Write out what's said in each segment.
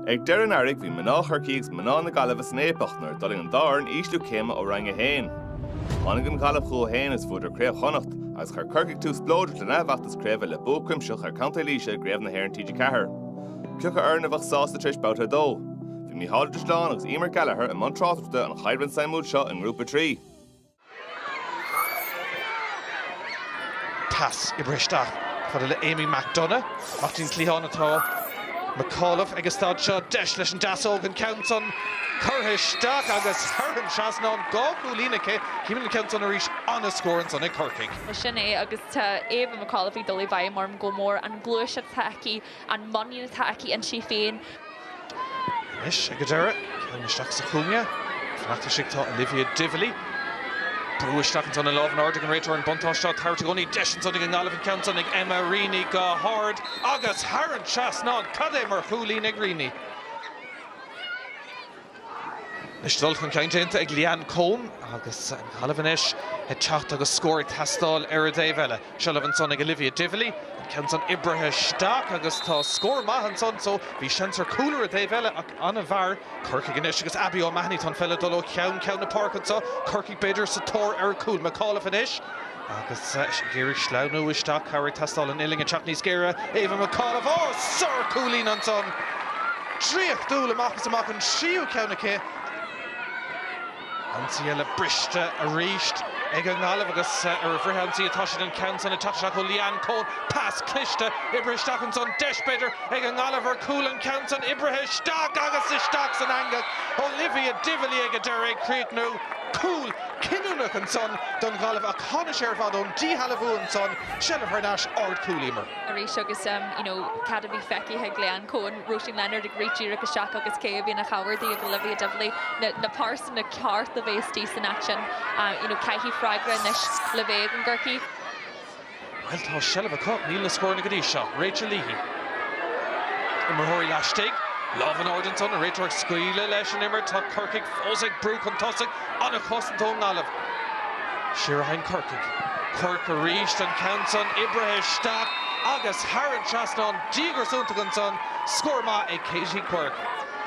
Ag deireadh an earraigh bhí mná Chorcaí agus mná na Gaillimhe san fhaopach nuair a d'fhulaing an dá fhoireann ísliú céime ó Roinn 1. Tháinig an Ghaillimh chucu féin is bhuadar Craobh Chonnacht agus chuir Corcaigh tús spleodrach lena bhfeachtas craoibhe le bua cuimsitheach ar Contae Laoise i gCraobh na hÉireann TG4. Cé acu foireann a bheadh sásta tar éis babhta 2. Bhí Micheál de Spláinn agus Emer Gallagher i mbun tráchtaireachta an chaidrimh suimiúil seo i nGrúpa 3. Pas oibrithe isteach chomh fada le Amy McDonagh. Amach ón cliathán atá McAuliffe ag an staid seo. Deis leis an deasóg an ceann san curtha isteach agus thar an trasnán dhá chúilín aici. Címid an ceann san arís. An-scór ansan ag Corcaigh. Sin é agus tá Ava McAuliffe ag dul i bhfeidhm orm go mór. An gluaiseacht atá aici an muinín atá aici inti féin. Anois ag an deireadh, ceann isteach sa chúinne, fanacht istigh atá Olivia Divilly. Brúdh isteach ansan an lámh in airde ag an réiteoir, an buntáiste á tabhairt i gcónaí. Deis ansan ag an nGaillimh an ceann san ag Emma Reaney go hard agus thar an trasnán. Cad é mar chúilín ag Reaney! Anois dul chun cinn déanta ag Leanne Coen agus an Ghaillimh anois ag teacht agus scór ag teastáil ar an dtaobh eile. Seilbh ansan ag Olivia Divilly, an ceann san oibrithe isteach agus tá scór maith ansan so bhí seans ar cúl ar an dtaobh eile ach i bhfabhar Corcaigh anois agus Abbie O'Mahony, tá an pheil ag dul ó cheann ceann na páirce anso, Corcaigh b'fhéidir sa tóir ar an cúl. McAuliffe anois. Agus ag iarraidh sleamhnú isteach cabhair ag teastáil an uillinn ag teacht níos géire, Ava McAuliffe, oh sárchúilín ansan! Draíochtúil amach is amach an tríú ceann aici. Ionsaí eile briste arís ag an nGaillimh agus ar an bhfrithionsaí atá siad an ceann san ag teacht isteach ó Leanne Coen, pas cliste oibrithe isteach ansan, deis b'fhéidir ag an nGaillimh ar cúl an ceann san oibrithe isteach agus isteach san eangach Olivia Divilly ag an deireadh ag críochnú cúl cinniúnach ansan don Ghaillimh ach tháinig sé ar fad ón díshealbhú ansan, seilbh thar n-ais, ardchúl Emer. Arís agus you know cad a bhí feicthe ag Leanne Coen, Róisín Leonard ag rith díreach isteach agus cé a bhí ina chabhair di, Olivia Divilly, na na pearsana ceart a bheith istigh san action. you know caithfidh freagra anois le bheith ag an gCorcaigh. Bhuel tá seilbh acu, níl na scóranna go dtí seo. Rachel Leahy. Imreoirí laistigh. Lámh in airde ansan, an réiteoir ag scaoileadh leis an imirt. Tá Corcaigh fós ag brú chun tosaigh. An-chosaint ón nGaillimh. Siar a théann Corcaigh. Quirke arís, an ceann san oibrithe isteach agus thar an trasnán. Díograis iontach ansan. Scór maith ag Katie Quirke.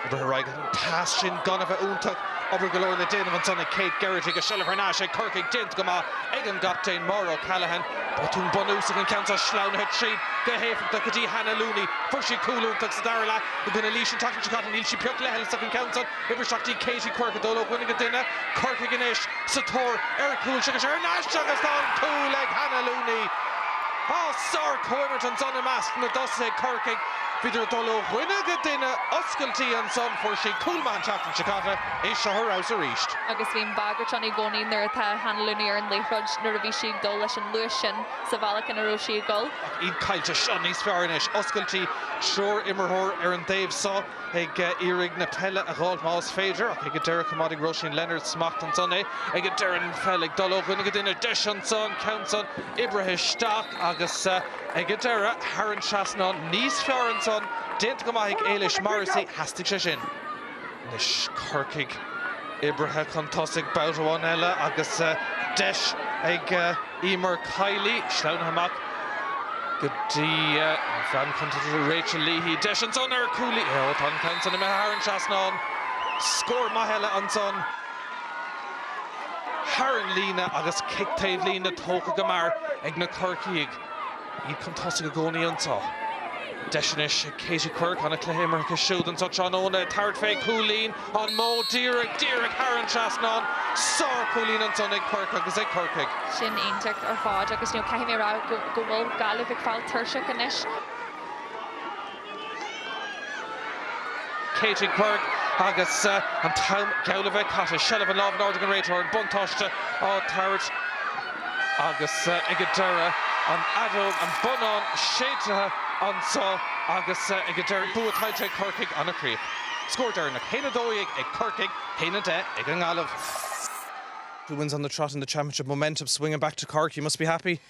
Oibrithe ar aghaidh. Pas sin gan a bheith iontach, obair go leor le déanamh ansan ag Kate Geraghty agus seilbh thar n-ais ag Corcaigh déanta go maith ag an gcaptaen Máire O'Callaghan. Botún bunúsach an ceann san, sleamhnaithe tríd go héifeachtach go dtí Hannah Looney. Fuair sí cúl iontach sa dara leath i gcoinne Laois an tseachtain seo caite, níl sí pioc leithleasach an ceann san. Oibrithe isteach Katie Quirke ag dul ó dhuine go duine, Corcaigh anois sa tóir ar chúl seo agus thar n-ais seo agus tá an cúl ag Hannah Looney. Á, sár-chomhimirt ansan i measc na dtosaithe ag Corcaigh, bhíodar ag dul ó dhuine go duine, Oscailtí ansan fuair sí cúl maith an tseachtain seo caite é seo ar fheabhas arís. agus bíonn bagairt ann i gcónaí nuair atá Hannah Looney ar an liathróid nuair a bhíonn sí ag dul leis an luas sin sa bhealach ina raibh sí ag dul. Iad caillte, seo níos fearr anois. Oscailtí triúr imreoirí ar an dtaobh seo ag iarraidh na peile a dh'fháil más féidir, ach ag an deireadh choimeádaig Róisín Leonard smacht ansan é ag an deireadh an pheil ag dul ó dhuine go duine. Deis ansan ceann san oibrithe isteach agus. Ag an deireadh, thar an trasnán níos fearr ansan déanta go maith ag Ailish Morrissey, theastaigh sé sin. Anois Corcaigh oibrithe chun tosaigh babhta amháin eile agus deis ag Eimear Kiely, sleamhnaithe amach go dtí an bhean chúnta, Rachel Leahy, deis ansan ar chúilín, ó tá an ceann san imithe, thar an trasnán scór maith eile ansan. thar an líne agus cic taobh líne tógtha go mear ag na Corcaígh. Iad chun tosaigh i gcónaí anseo. Deis anois ag Katie Quirke, ana-chluiche imeartha aici siúd anseo tráthnóna, ag tabhairt fé cúilín, an-mhór díreach, díreach thar an trasnán. Sárchúilín ansan ag Quirke agus ag Corcaigh. Sin iontach ar fad agus caithfidh mé a rá go bhfuil Gaillimh ag fáil tuirseach anois. Katie Quirke agus an t-am geall le bheith caite. Seilbh an lámh in airde ag an réiteoir, an buntáiste á tabhairt agus ag an deireadh an fheadóg, an bonnán séidte anso agus ag an deireadh bua tuillte ag Corcaigh ina chríoch. Scór deireanach, hAon 12 ag Corcaigh, hAon 10 ag an nGaillimh. Two wins on the trot in the championship, momentum swinging back to Cork, you must be happy?